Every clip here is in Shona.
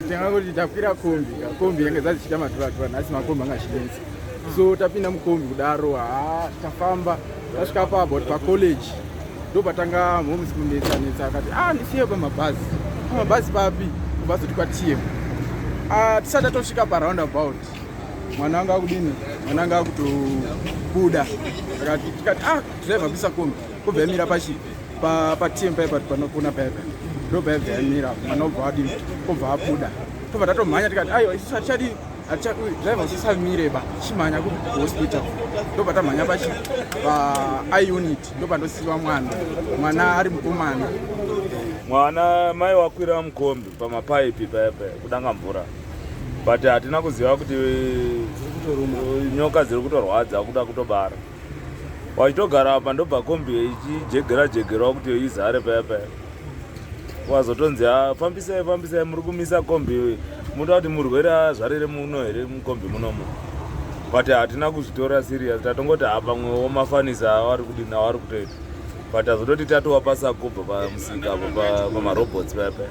tanga kuti takwira kombi kombi yange dzazvichita maturatura nhasi makombi anga achinetsa so tapinda mukombi kudaro haa tafamba tasvika pa about pacollege ndo patanga moms kunetsa netsa akati a ah, ndisiye pamabhazi pamabhazi papi kubhazi kuti kwatm ah, tisati tatosvika paround about mwana anga akudini mwana anga akutobuda akati tikati a ah, driver kuisa kombi kobva yamira pachipi pa pa team paipa panokuna paipa ndobva yabva yamira mwana obva adi obva abuda tobva tatomhanya tikati aiwa isu hatichadi driver usisamire ba chimhanya kuhospital ndobva tamhanya pachi pa iunit ndobva ndosiiwa mwana mwana ari mukomana mwana mai wakwira mukombi pamapaipi paipa kudanga mvura but hatina kuziva kuti nyoka dziri kutorwadza kuda kutobara wachitogara apa ndobva kombi ichijegera jegerawo kuti izare paya paya wazotonzi ah, fambisai fambisai muri kumisa kombi munoda kuti murwere azvarire muno here mukombi munomo but hatina kuzvitora serious tatongoti ha ah, pamwewo mafanisa avari kudini avari kutoita but azototi tatowa pasakubva pamusika pamarobots paya paya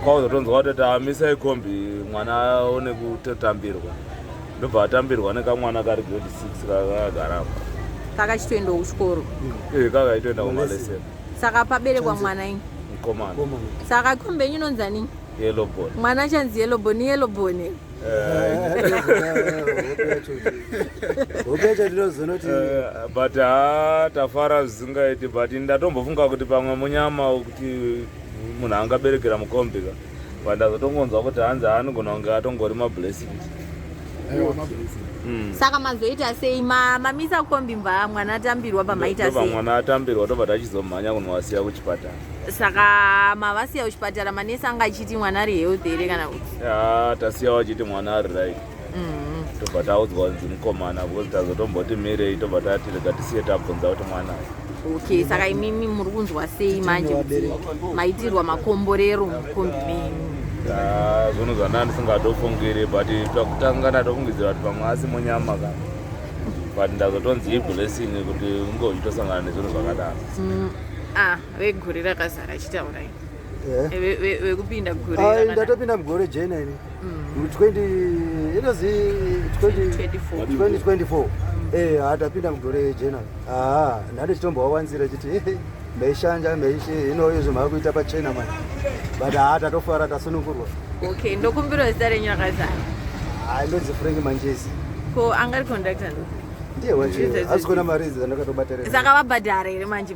kwakuzotonzwa kuti tamisai kombi mwana aone kutotambirwa ndobva atambirwa nekamwana kari grade 6 kakagaramba kakachitoendawo kuchikoro ee eh, kakaitoenda kumalese saka paberekwa mwana ini mukomana saka kombe yenyu inonzi aningi yelobon mwana achanzi yelobon yelobon eh. but ha tafara zvisingaiti but ndatombofunga kuti pamwe munyama kuti munhu angaberekera mukombika but ndazotongonzwa kuti hanzi anogona kunge atongori mablessing hmm. saka mazoita sei mamisa kombi mva mwana atambirwa pamaita sei mwana atambirwa tobva tachizomhanya kunovasiya kuchipatara saka mavasiya kuchipatara manesi anga achiti mwana ari health here kana kuti tasiya wachiti mwana ari right mm-hmm. tobva taudzwa kunzi mukomana because tazotomboti mirei tobva tati rega tisiye tabvunza kuti mwana okay saka imimi muri kunzwa sei manje maitirwa makomborero mukombi menyu zvinhu zvandanga ndisingatofungiri but pakutanga ndatofungidzira kuti pamwe asi munyama ka but ndazotonzi iblessing kuti unge uchitosangana nezvinhu zvakadaro mm, ah, vegore rakazara chitaura eh? vekupinda gure ndatopinda mugore jena ini 2024 eh hatapinda mugore rejena aa nhande chitombowawanzira chiti meishanja meishi ino izvo maakuita pachena mani but haa tatofara tasunungurwa okay ndokumbirawo zita renyu rakazara hai ndonzi frank manjezi ko angari conductor ndiye wacho asi kona mari idzi dzandakatobatarira saka vabhadhara here manje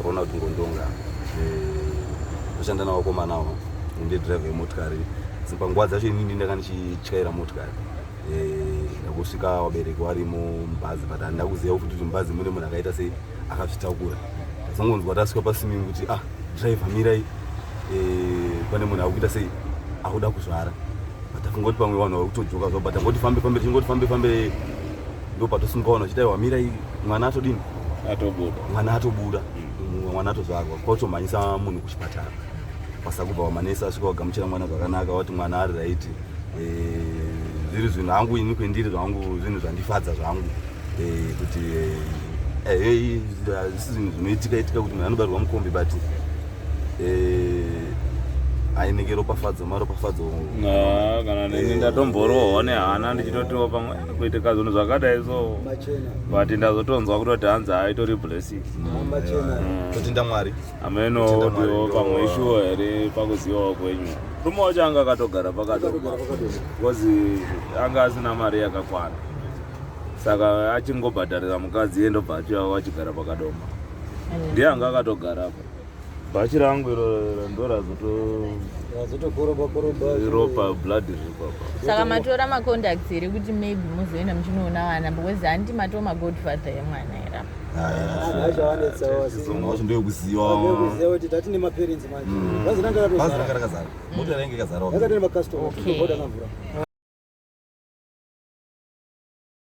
Ukaona kuti ngondonga ndoshanda navo komana avo ende driver yemotikari panguva dzacho ini ndi ndanga ndichityaira motikari eh, ndakusvika vabereki varimo mubhazi but handina kuziva kuti kuti mubhazi mune munhu akaita sei akazvitakura ndazongonzwa tasvika pasimini kuti ah driver mirai eh, pane munhu akuita sei akuda kuzvara but afungoti pamwe vanhu vari kutodzoka zvavo but angoti fambe fambe tingoti fambe fambe ndo patosimkaona chita iwa mira mwana atodini atobuda mwana atobuda mm. mwana atozvarwa kwatomhanyisa munhu kuchipatara kwasakubva wamanesa asvika wagamuchira mwana zvakanaka wati mwana ari raiti eh, zviri zvinhu hangu ini kwendiri zvangu zvinhu zvandifadza zvangu eh, kuti hazvisi zvinhu zvinoitika itika kuti munhu anobarwa mukombi but ainenge ropafadzo maropafadzo kana ndatomboroohwa nehana ndichitotiwo pamwe kuitika zvinhu zvakadai so but ndazotonzwa kutoti hanzi haitori blessing totenda mm. mwari amenowo tiwo pamwe ishuwo here pakuzivawo kwenyu rume wacho anga akatogara pakati because anga asina mari yakakwana saka achingobhadharira mukadzi iye ndobva achiva vachigara pakadoma ndiye anga akatogara apa bhachi rangu iro ndorazotoropa blood zvipapa saka matora macontacts here kuti maybe muzoenda muchinoona vana because handi matoo magodfather yemwana era ndokuzivakuti tati nemaparents manje mm. bhazi ranga rakazara mota rainge ikazara yakatene macustomer